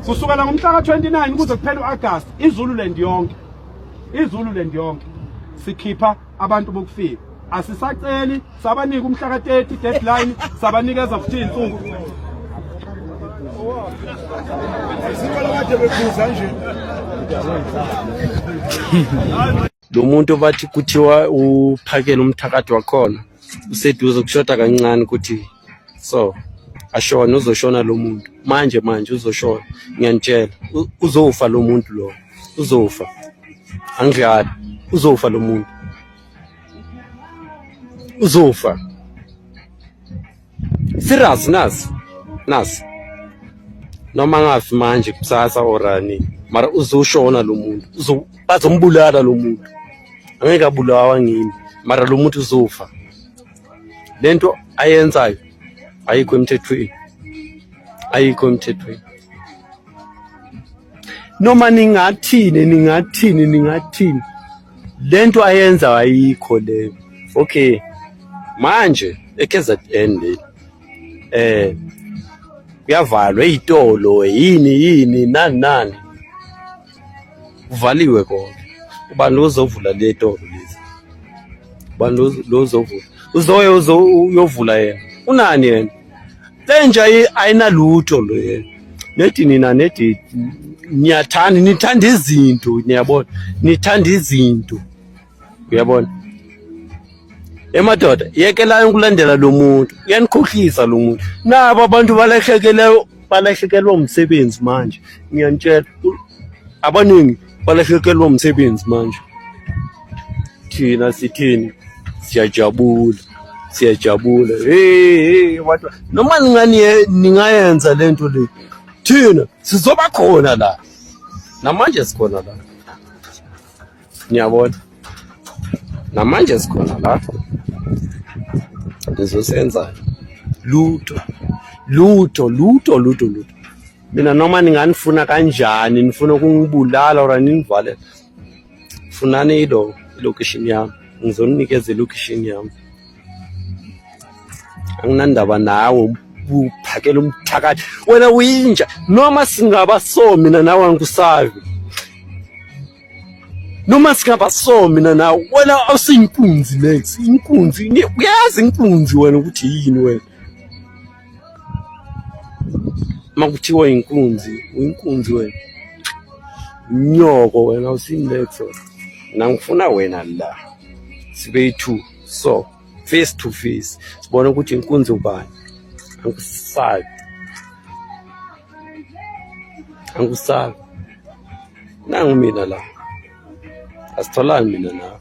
Kusukela ngomhla ka-29 kuze kuphela u-Agasti iZululand yonke iZululand yonke sikhipha abantu bokufika asisaceli sabanika umhla ka-30 deadline sabanikeza futhi iy'nsuku Sikole kade bephuza nje. Lo muntu bathi kuthiwa uphakele umthakathi wakhona useduze kushoda kancane ukuthi so ashona uzoshona lo muntu manje manje uzoshona ngiyanitshela uzofa lo muntu lo uzofa angidlali uzofa lo muntu uzofa Serious nas. Nas. Noma ngafi manje kusasa orani. Mara uzoshona lo muntu. Uzo bazombulala lo muntu. Angeke abulawa ngini. Mara lo muntu uzofa. Lento ayenzayo ayikho emthethweni. Ayikho emthethweni. Noma ningathini ningathini ningathini lento ayenza ayikho le okay manje eKZN le eh kuyavalwa ezitolo yini yini nani nani kuvaliwe konke ubani lozovula le tolo lezi ubani lozovula uzoye uyovula yena unani yena Lenja ayinalutho le nedi nina nedi niyathanda nithanda izinto niyabona nithanda izinto uyabona emadoda yekelayo ukulandela lo muntu uyanikhohlisa lo muntu nabo abantu balahlekeleyo balahlekelwa umsebenzi manje ngiyanitshela abaningi balahlekelwa umsebenzi manje thina sithini siyajabula siyajabula hey watu noma ningani ningayenza lento le thina sizoba khona la namanje sikhona la niyabona namanje sikhona la nizosenza lutho lutho lutho lutho lutho mina noma ninganifuna kanjani nifuna ukungibulala or ninivale funani ilo ilocation yami ngizoninikeza ilocation yami anginandaba nawe uphakela umthakathi wena uyinja noma singaba so mina nawe angikusavi noma singaba so mina nawe wena awusiyinkunzi next inkunzi uyazi inkunzi wena ukuthi yini wena uma kuthiwa inkunzi uyinkunzi wena nyoko wena usinexo nangifuna wena la sibe yi-two so face to face sibone ukuthi inkunzi ubani angikusabi angikusabi nangu mina la asitholani mina nawe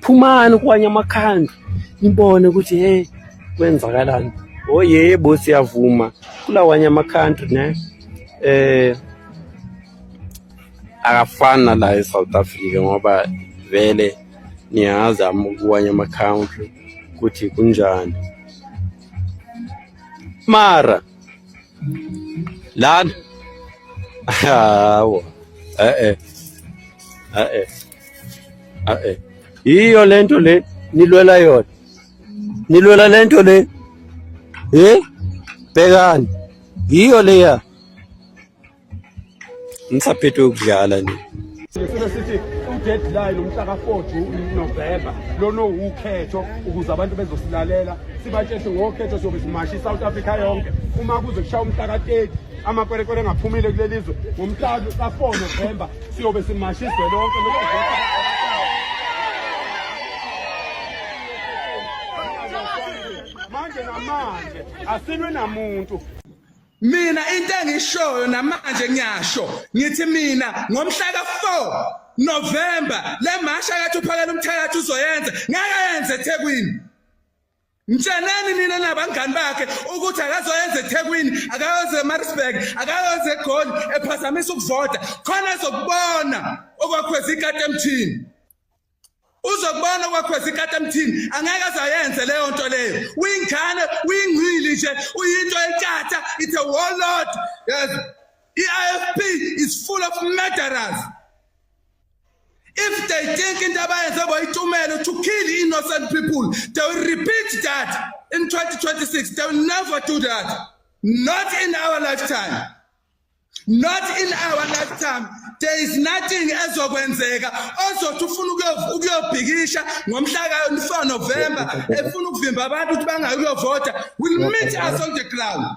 phumani kwanye amakhanda nibone ukuthi hey kwenzakalani oh yebo siyavuma kulawanye amakhanda ne eh akafani nala e-south africa ngoba vele niyazi kuwanye ama-country ukuthi kunjani mara lana hawa e-e e-e Ah, eh. yiyo le nto le nilwela yona nilwela le nto le ye eh? bhekani yiyo leya ngisaphethwe ukudlala nje Sifuna sithi udeadline umhla ka-4 June November lona uwukhetho ukuze abantu bezosilalela sibatsheshe ngokhetho siyobe simasha i-South Africa yonke uma kuze kushaya umhla ka-30 amakwerekwere engaphumile kuleli zwe ngomhla ka-4 November siyobe simasha izwe lonke manje namanje asilwe namuntu mina into engishoyo namanje ngiyasho ngithi mina ngomhla ka-4 novemba le masha kathi uphakela umthakathi uzoyenza ngeke yenze ethekwini Mtsheneni nina nabangani bakhe ukuthi akazoyenza eThekwini, akayoze eMaritzburg, akayoze eGoli ephazamisa ukuvota. Khona ezokubona okwakhweza ikati emthini. Uzokubona okwakhweza ikati emthini, angeke azayenze leyo nto leyo. Uyingane, uyingcili nje, uyinto enkatha, it's a warlord. Yes. I-IFP is full of murderers. If they think into abayenze boyitumelo to kill innocent people, they will repeat that in 2026. They will never do that. Not in our lifetime. Not in our lifetime. There is nothing ezokwenzeka ozothi ufuna ukuyobhikisha ngomhla ka-4 November efuna ukuvimba abantu ukuthi bangayi ukuyovota will meet us on the ground.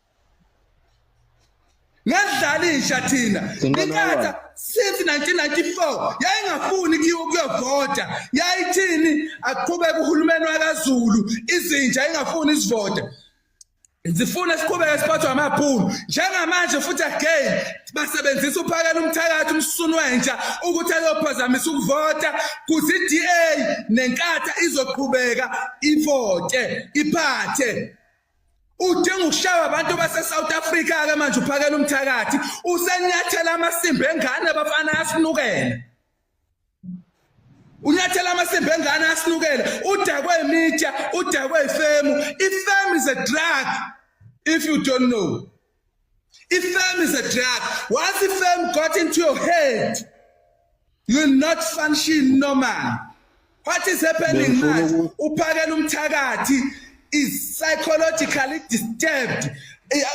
ngadlala intsha thina inkatha since 1994 yayingafuni kuyovota yayithini aqhubeke uhulumeni wakazulu izinja ingafuni isivota zifuna siqhubeke siphathwe amaphulu njengamanje futhi again basebenzisa uphakela umthakathi umsunu wentsha ukuthi ayophazamisa ukuvota kuthi i-DA nenkatha izoqhubeka ivote iphathe udinga ukushaywa abantu base-south africa-ke manje uphakela umthakathi usenyathela amasimba engane abafana asinukela unyathela amasimba engane asinukela udakwe imitsha udakwe ifemu ifemu is a drug if you don't know Ifame is a drug. Once ifame got into your head, you will not function normal. What is happening manje? Uphakela umthakathi is psychologically disturbed.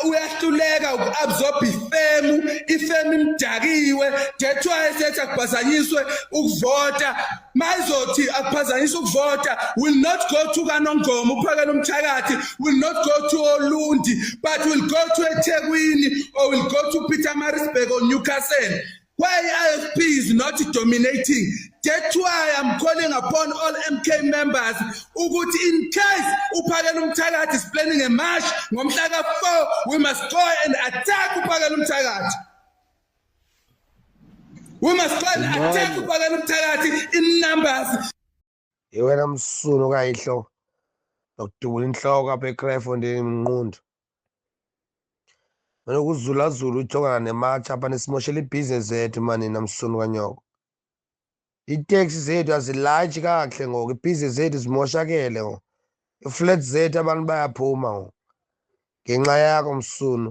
Uyahluleka ukuabsorb ifemu, ifemu imdakiwe, that's why esethi akubhazanyiswe ukuvota. mayizothi akuphazanyisa ukuvota will not go to kanongoma uphakela umthakathi will not go to olundi but will go to ethekwini or will go to peter marisburg or newcastle why ifp is not dominating that's why i'm calling upon all mk members ukuthi in case uphakela umthakathi is planning a march ngomhla ka-4 we must go and attack uphakela umthakathi We must try to attack ubakala umthakathi in numbers. Iwena msunu kayihlo. Nokudubula inhloko apha eCrefo ndini mnqundu. Mina kuzula zulu ujongana nematch apha nisimoshela ibhizinesi zethu mani namsunu kanyoko. Itaxi zethu azilayitshi kakuhle ngoku ibhizinesi zethu zimoshakele ngoku. Iflat zethu abantu bayaphuma ngoku. Ngenxa yakho msunu.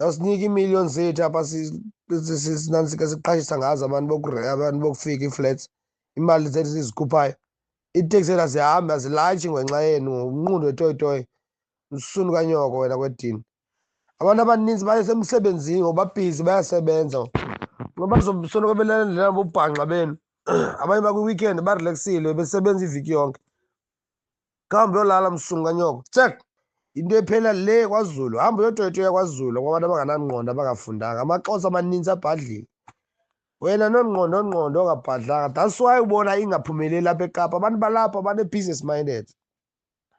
yawusinika iimillion zethu apha sinantsika siqashisa ngazo abantu abantu bokufika ii-flats imali zethu sizikhuphayo iiteksi zethu azihambi azilayitshi ngenxa yenu ngumnqundu wetoyitoyi msunu kanyoko wena kwedini abantu abaninzi baye semsebenzini ngoba bhizi bayasebenza ngoba zosoloko belandela bobhanxa benu abanye bakwi-weekend barelaxile besebenza iviki yonke kahambe uyolala msungu kanyoko check into ephela le kwazulu hamba uyotoyitoya kwazulu kwabantu abanganangqondo abangafundanga amaxhosa amaninzi abhadlile wena nongqondo ongqondo ongabhadlanga that's why ubona ingaphumeleli apha ekapa abantu balapha bane-business minded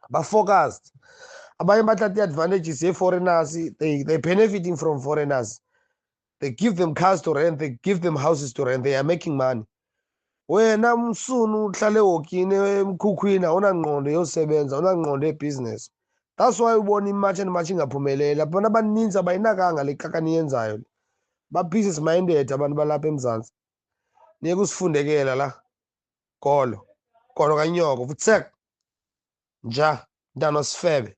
ba-focused abanye bathatha i-advantages ye-foreigners they, they benefiting from foreigners they give them cars to rent they give them houses to rent they are making money wena msunu uhlale wokini emkhukhwini awunangqondo yosebenza awunangqondo yebusiness that's why ubona imatch and match ingaphumeleli abantu abaninzi abayinakanga le kaka niyenzayo le ba-pieces minded abantu balapha emzantsi niye kusifundekela la golo golo kanyoko futsek nja mntana osifebe